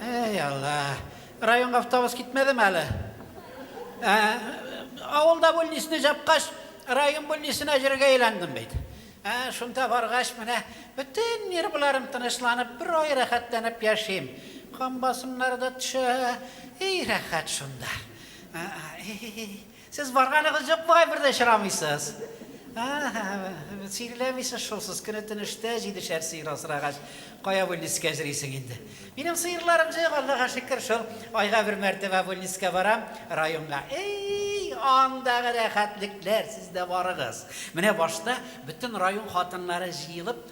Әй алла, районга автобус китмәдеме әле? Ә, авылда бүлнисне жапкач, район бүлнисенә җиргә әйләндем бит. Ә, шунда баргач, менә бөтен нервларым тынычланып, бер ай рәхәтләнеп яшим. Кан басымнары да төшә, эй рәхәт шунда. Ә, эй, Сез барганыгыз юк бугай бер дә очрамыйсыз. Ага, сөйреләмисез шул сез, көне-төне эштә, җидешәр сыер асрагач, кая Вольницкә җрисең инде. Минем сыерларым җыек, Аллага шөкер, шул айга бер мәртәбә Вольницкә барам, районга. Эй, андагы рәхәтлекләр, сез дә барыгыз. Менә башта бөтен район хатыннары җыелып,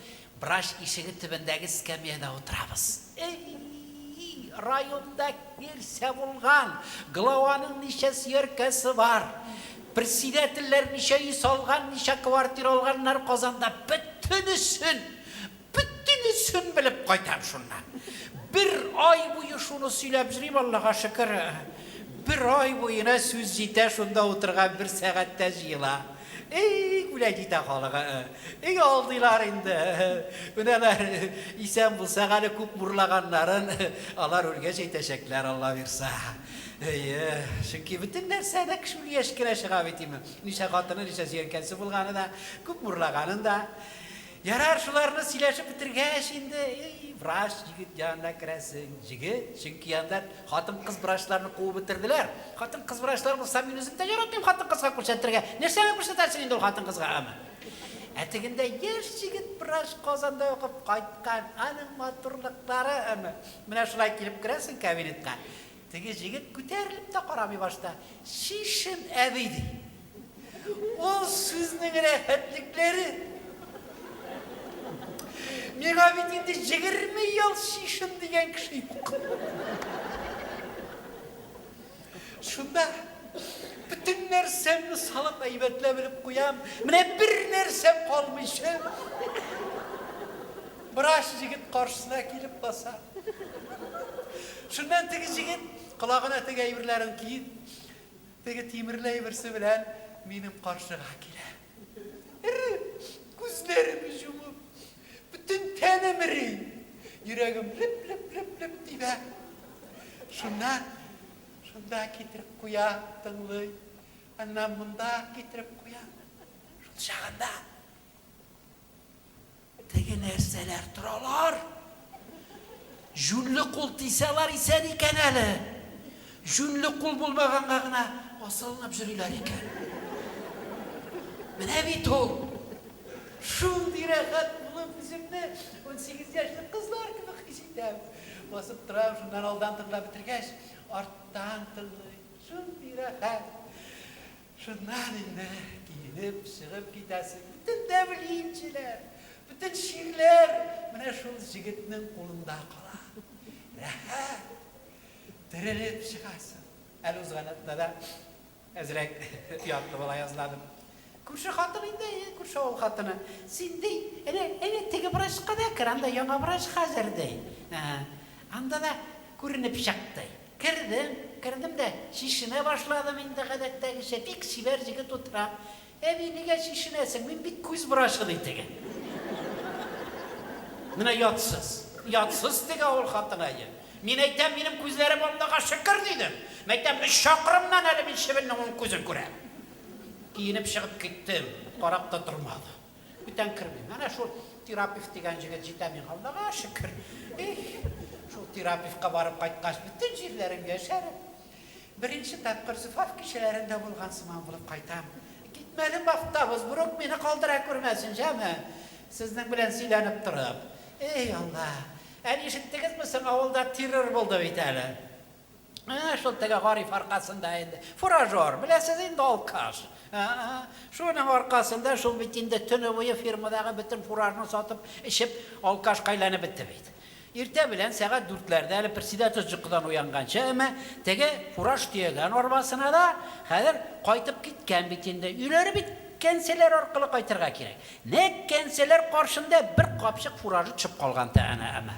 Врач ишеге төбендәге скамьяда утырабыз. Эй-и-и, районда кирсә булган, главаның ничә сөяркәсе бар, председательләр ничә өй салган, ничә квартира алганнар Казанда, бөтенесен, бөтенесен белеп кайтам шуннан. Бер ай буе шуны сөйләп йөрим, Аллага шөкер, бер ай буена сүз җитә, шунда утырган бер сәгатьтә җыела. Ий, күләй китә халыгы. Өй алдыйлар инде. Өнәләр исән булсак әле күп мурлаганнарын алар үлгәч әйтәчәкләр, Алла бирса. Әйе, чөнки бөтен нәрсә нәкъ шул яшькә чыга бит ими. Ничә хатыны, ничә сөянкәсе булганы да, күп мурлаганын да. Ярар, шуларны сөйләшеп бетергәч инде, ий, врач җигет янына керәсең. Җигет, чөнки анда хатын-кыз врачларны куып бетерделәр. Хатын-кыз врачлар булса, мин үзем дә яратмыйм хатын-кызга күрсәтергә. Нәрсәгә күрсәтәсең инде ул хатын-кызга аны? Ә тегендә яшь җигет врач Казанда укып кайткан, аның матурлыклары аны. Менә шулай килеп керәсең кабинетка. Теге җегет күтәрелеп тә карамый башта, Чишен әби, ди. Ул сүзнең рәхәтлекләре! Миңа бит инде җегерме ел чишен дигән кеше юк. Шунда бөтен нәрсәмне салып әйбәтләп элеп куям. Менә бер нәрсә калмыйча. Врач егет каршысына килеп баса. Шуннан теге җегет, колагына теге әйберләрен киеп, теге тимерле әйберсе белән минем каршыга килә. Эреп, күзләремне җумып, бөтен тәнем эри, йөрәгем леп-леп-леп-леп тибә. Шуннан шунда китереп куя, тыңлый, аннан монда китереп куя. Шул чагында Теге нәрсәләр торалар. Җүнле кул тисәлар исән икән әле. Җүнле кул булмаганга гына асылынып жөриләр икән. Менә бит ул. Шундый рәхәт булып үземне унсигез яшьлек кызлар кебек хис итәм. Басып торам, шуннан алдан тыңлап бетергәч, арттан тыңлыйм. Шундый рәхәт. Шуннан инде киенеп чыгып китәсе. Бөтен тәмлинчеләр, бөтен чирләр менә шул җегетнең кулында кала. Рәхәт! Терелеп чыгасың. Әле узган атнада әзрәк ятлы бала язладым. Күрше хатын инде, күрше авыл хатыны. Син ди, әнә, әнә теге врачка да кер, анда яңа врач хәзер ди. Анда да күренеп чык ди. Кердем. Кердем дә чишенә башладым инде гадәттәгечә. Бик чибәр җегет утыра. Әби, нигә чишенәсең? Мин бит күз врачы, ди теге. Менә ятсыз. Ятсыз теге авыл хатынае. Мин әйтәм, минем күзләрем Аллага шөкер, дидем. Мәйтәм, өч чакрымнан әле мин чебеннең уң күзен күрәм. Киенеп чыгып киттем. Карап та тормады. Бүтән кермим. Әнә шул Тирапев дигән җегет җитә миңа, Аллага шөкер. Их, шул Тирапевка барып кайткач, бөтен җирләрем яшәреп, беренче тапкыр Зөфаф кичәләрендә булган сыман булып кайтам. Китмәле бахта Бозборук мине калдыра күрмәсен, җәме! Сезнең белән сөйләнеп торып. Эй, Алла! Әни, ишеттегезме соң, авылда террор булды бит әле. Ә, шул теге гариф аркасында инде. Фуражер, беләсез инде алкаш. Ә, шуның аркасында шул бит инде төне буе фирмадагы бөтен фуражны сатып, эчеп, алкаш кайланып бетте бит. Иртә белән сәгать дүртләрдә әле председатель җокыдан уянганчы, әмма теге фураж төягән арбасына да хәзер кайтып киткән бит инде. Өйләре бит кәнселәр аркылы кайтырга кирәк. Нәкъ кәнселәр каршында бер капчык фуражы төшеп калган та әнә, әмма.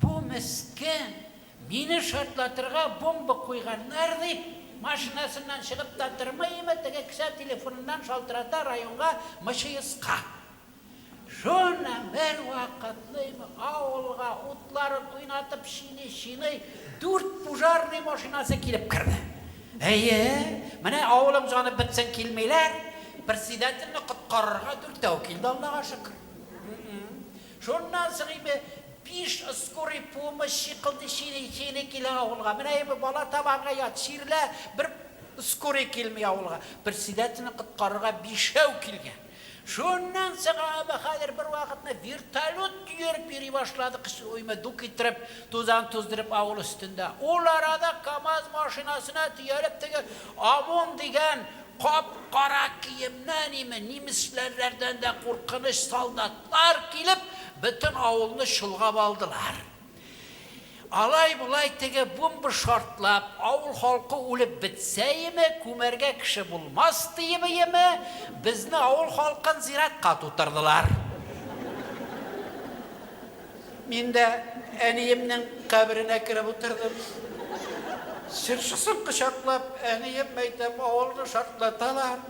Бу мескен, мине шартлатырга бомба куйганнар дип, машинасыннан чыгып та тормый име, теге кесә телефоныннан шалтырата районга МЧСка. Шуны бервакытлыйм авылга утларын уйнатып чиный-чиный дүрт пужарный машинасы килеп керде. Әйе, менә авылым җаны бетсен килмиләр, председательне коткарырга дүртәү килде, Аллага шөкер. Шуннан соң инде биш скорый помощь чикылды, чили, чили килә авылга. Менә инде бала табарга ят, чирлә, бер скорый килми авылга. Председательне коткарырга бишәү килгән. Шуннан соң аңа хәзер бервакытны вертолет йөреп йөри башлады, кычыуыймы, дук иттереп, тузан туздырып авыл өстендә. Ул арада КАМАЗ машинасына төялеп теге ОМОН дигән кап-кара киемнән име, нимесләрләрдән дә куркыныч солдат. Алар килеп, бөтен авылны чолгап алдылар. Алай-болай теге бумба шартлап, авыл халкы үлеп бетсәеме, күмәргә кеше булмас диебееме, безне, авыл халкын, зиратка тутырдылар. Мин дә әниемнең каберенә кереп утырдым. Җырчысын кочаклап, әнием мәйтәм, авылны шартлаталар.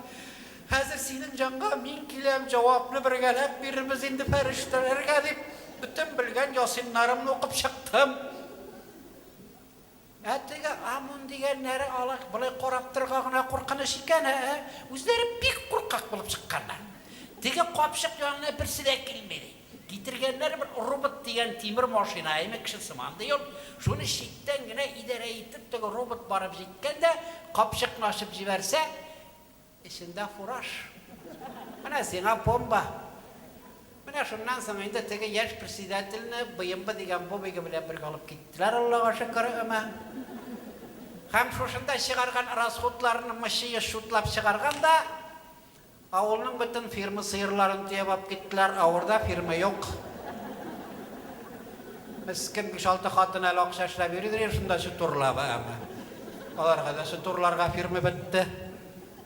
Хәзер синең җанга мин киләм, җавапны бергәләп бирербез инде фәрештәләргә, дип, бөтен белгән ясиннарымны укып чыктым. Ә теге Амун дигәннәре алай, болай карап торырга гына куркыныч икән, ә-ә, үзләре бик куркак булып чыкканнар. Теге капчык янына берсе дә килми, ди. Китергәннәр бер робот дигән тимер машина, әйме, кеше сыман, ди ул. Шуны читтән генә идарә итеп, теге робот барып җиткән дә, капчыкны ачып җибәрсә, Эчендә фураж. Менә сиңа бомба! Менә шуннан соң инде теге яшь председательне БМБ дигән бобигы белән бергә алып киттеләр, Аллага шөкер, өмә. Һәм шушында чыгарган расходларны мычыеш чутлап чыгарган да, авылның бөтен фирма сыерларын төяп алып киттеләр, авырда фирма юк. Мескен биш-алты хатын әле акча эшләп йөридер инде шунда чутурлап, әмма аларга да чутурларга фирма бетте.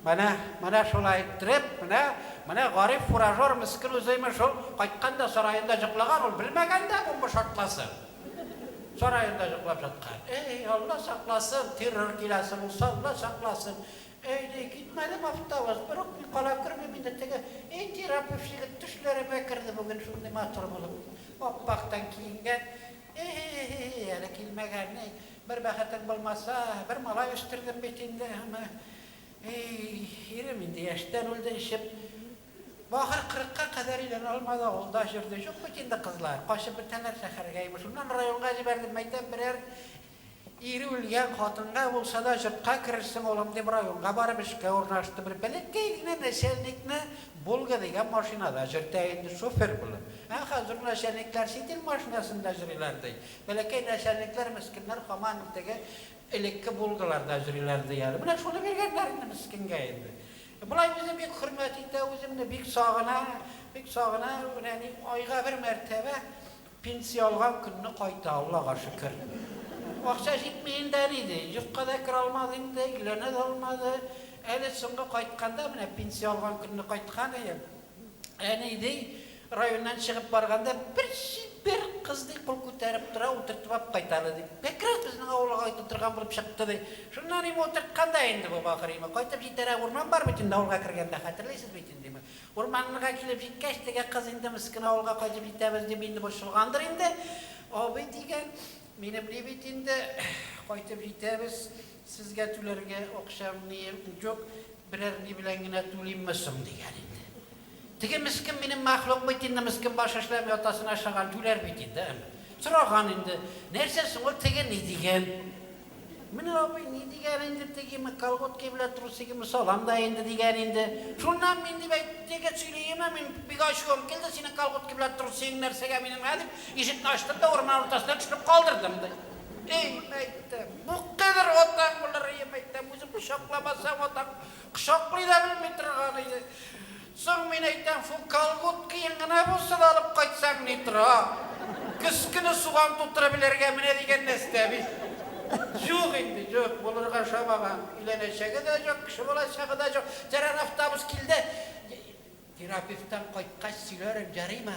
Менә, менә шулай иттереп, менә, менә гариф фуражер мескен үзе имеш шул кайткан да сараенда җоклаган, ул белмәгән дә бу бу шартласын. Сараенда җоклап җаткан. Эй, Алла сакласын, террор киләсе булса, Алла сакласын. Әйди, китмәде ме автовоз? Өрекми кала күрмим инде теге и терапевт егет төшләремә керде бүген шундый матур булып ап-актан киенгән и-һи-һи-һи-һи әле килмәгән-ни бер бәхетең булмаса бер малай үстердем бит инде аны и-и-и ирем инде яшьтән үлде эчеп ахыр кырыкка кадәр өйләнә алмады авылда җөрде җук бит инде кызлар качып бетәләр шәхәргә имеш шуннан районга җибәрдем мәйтәм берәр Ире үлгән хатынга булса да җортка керерсең, улым, дип районга барып эшкә урнаштым. Бер бәләкәй генә нәчәлникне Волга дигән машинада җөртә инде шофер булып. Ә хәзер нәчәлникләр ситил машинасында җөриләр ди. Бәләкәй нәчәлникләр, мескеннәр һаман теге элекке Волгаларда җөриләр ди әле. Менә шуны биргәннәр инде мескенгә инде. Болай үзе бик хөрмәт итә, үземне бик сагына, бик сагына. Менә ни, айга бер мәртәбә Пенсия алган көнне кайта, Аллага шөкер. Акча җитми инде әни, ди. Йортка да керә алмады инде, өйләнә дә алмады. Әле соңгы кайтканда, менә пенсия алган көнне кайткан идем. Әни, ди, районнан чыгып барганда, бер чибәр кыз, ди, кул күтәреп тора, утыртып алып кайта әле, ди. Бәкраз безнең авылга кайтып утырган булып чыкты, ди. Шуннан ими утырткан да инде бу, ахры ими. Кайтып җитәрәк урман бар бит инде авылга кергәндә, хәтерлисез бит инде ими. Урманнарга килеп җиткәч, теге кыз инде мескен авылга кайтып җитәбез дип инде борчылгандыр инде. Абый дигән, мине бли бит инде, кайтып җитәбез, сезгә түләргә акчам ни җук, берәр ни белән генә түлимме соң, дигән инде. Теге мескен минем мәхлук бит инде, мескен баш эшләми атасына ошаган, түләр бит инде, әмма. Сораган инде, нәрсә соң ул, теге ни дигән? Менә абый ни дигән инде, тегеме, колготки белән трусигымны салам да инде, дигән инде. Шуннан мин, дип әйт, теге сөйлиемә мин бик ачуым килде, синең колготки белән трусигың нәрсәгә минем, һә, дип, ишекне ачтым да урман уртасына төшереп калдырдым, ди. Ием, әйтәм, бу кадәр атаң булыр, ием, әйтәм, үзең кочакламасаң, атаң кочаклый да белми торган иде. Соң мин әйтәм, шул колготкиең гына булса да алып кайтсаң ни тора? Көзкене суган тутырып эләргә менә дигән нәстә бит. Җук инде, җук, булырга ошамаган. Өйләнәчәге дә җук, кеше булачагы да җук. Тәрән автобус килде. Терапевттан кайткач сөйләрем, ярыймы?